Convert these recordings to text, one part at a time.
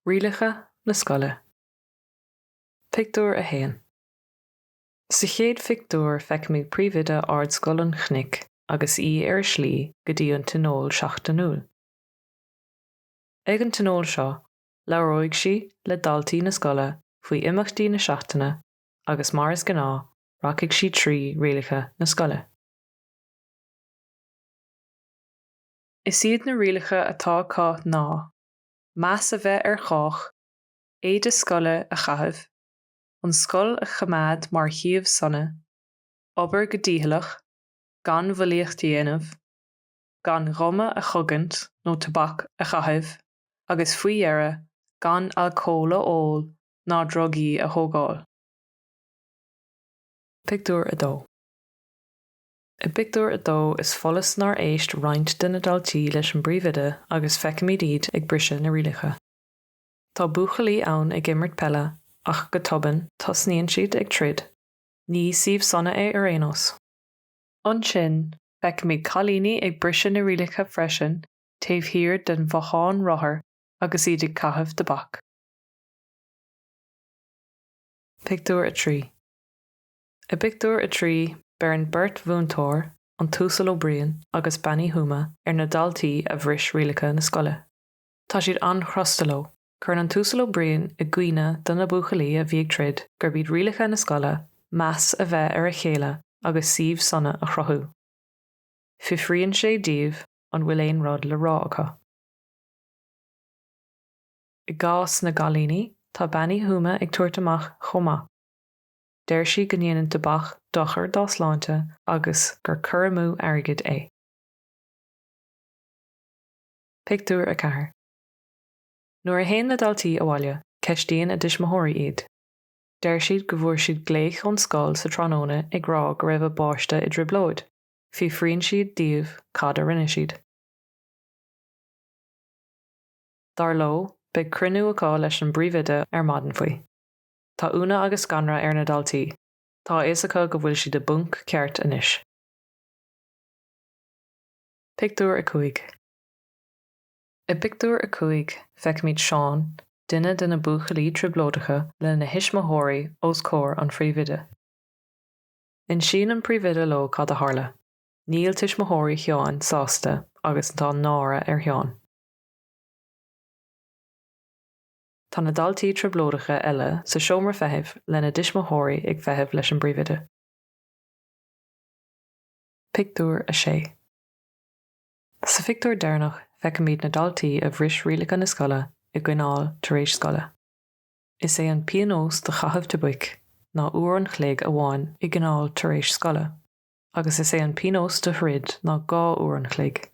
Rialacha na Scoile. Pictiúr 1 Sa chéad phictiúr feicimid Príomhoide Ardscoil an Chnoic agus í ar a slí go dtí an tionól seachtainiúil. Ag an tionól seo, labhróidh sí le daltaí na scoile faoi imeachtaí na seachtaine agus mar is gnáth, rachaidh sí trí rialacha na scoile. Is iad na rialacha atá acu ná, meas a bheith ar chách, éide scoile a chaitheamh, an scoil a choimeád mar shuíomh sona, obair go dícheallach, gan bhulaíocht a dhéanamh, gan ghuma a chogaint nó tobac a chaitheamh agus faoi dheireadh gan alcól a ól ná drugaí a thógáil. Pictiúr 2 I bpictiúr a dó is follas nár éist roinnt de na daltaí leis an bpríomhoide agus feicimid iad ag briseadh na rialacha. Tá buachaillí ann ag imirt peile ach go tobann tosnaíonn siad ag troid. Ní suíomh sona é ar aon nós. Ansin feicimid cailíní ag briseadh na rialacha freisin taobh thiar den bhothán rothair agus iad ag caitheamh tobac. Pictiúr 3 I bpictiúr a trí beireann beirt mhúinteoir, an tUasal Ó Briain agus Bean Uí Thuama, ar na daltaí a bhris rialacha na scoile. Tá siad an-chrosta leo. Cuireann an tUasal Ó Briain i gcuimhne do na buachaillí a bhí ag troid gurb iad rialacha na scoile meas a bheith ar a chéile agus suíomh sona a chruthú. Fiafraíonn sé díobh an bhfuil aon rud le rá acu. I gcás na gcailíní, tá Bean Uí Thuama ag tabhairt amach chomh maith. Deir sí go ndéanann tobac dochar dá sláinte agus gur cur amú airgid é. Pictiúr 4 Nuair a théann na daltaí abhaile, ceistíonn a dtuismitheoirí iad. Deir siad go bhfuair siad glaoch ón scoil sa tráthnóna ag rá go raibh a bpáiste i dtrioblóid. Fiafraíonn siad díobh cad a rinne siad. Dar leo, beidh cruinniú acu leis an bpríomhoide ar maidin faoi. Tá ionadh agus scanradh ar na daltaí, tá a fhios acu go bhfuil siad i bponc ceart anois. Pictiúr 5 I bpictiúr a cúig, feicimid Seán, duine de na buachaillí trioblóideacha, lena thuismitheoirí os comhair an phríomhoide. Insíonn an príomhoide leo cad a tharla. Níl tuismitheoirí Sheáin sásta agus tá náire ar Sheán. Tá na daltaí trioblóideacha eile sa seomra feithimh lena dtuismitheoirí ag feitheamh leis an bpríomhoide. Pictiúr 6. Sa phictiúr deireanach feicimid na daltaí a bhris rialacha na scoile i gcoinneáil tar éis scoile. Is é an pionós do chaitheamh tobac ná uair an chloig amháin i gcoinneáil tar éis scoile agus is é an pionós do throid ná dhá uair an chloig.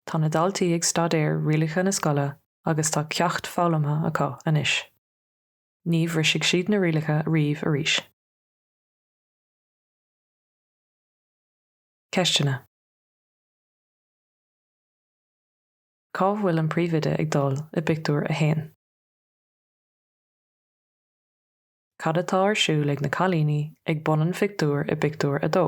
Tá na daltaí ag staidéar rialacha na scoile agus tá ceacht foghlamtha acu anois. Ní bhrisfidh siad na rialacha riamh arís. Ceisteanna. Cá bhfuil an príomhoide ag dul i bpictiúr a haon? Cad atá ar siúl ag na cailíní ag bun an phictiúir i bpictiúr a dó?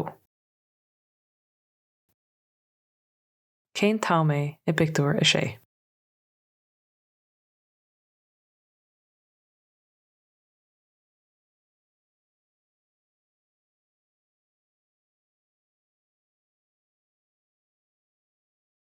Cén t-am é i bpictiúr a sé?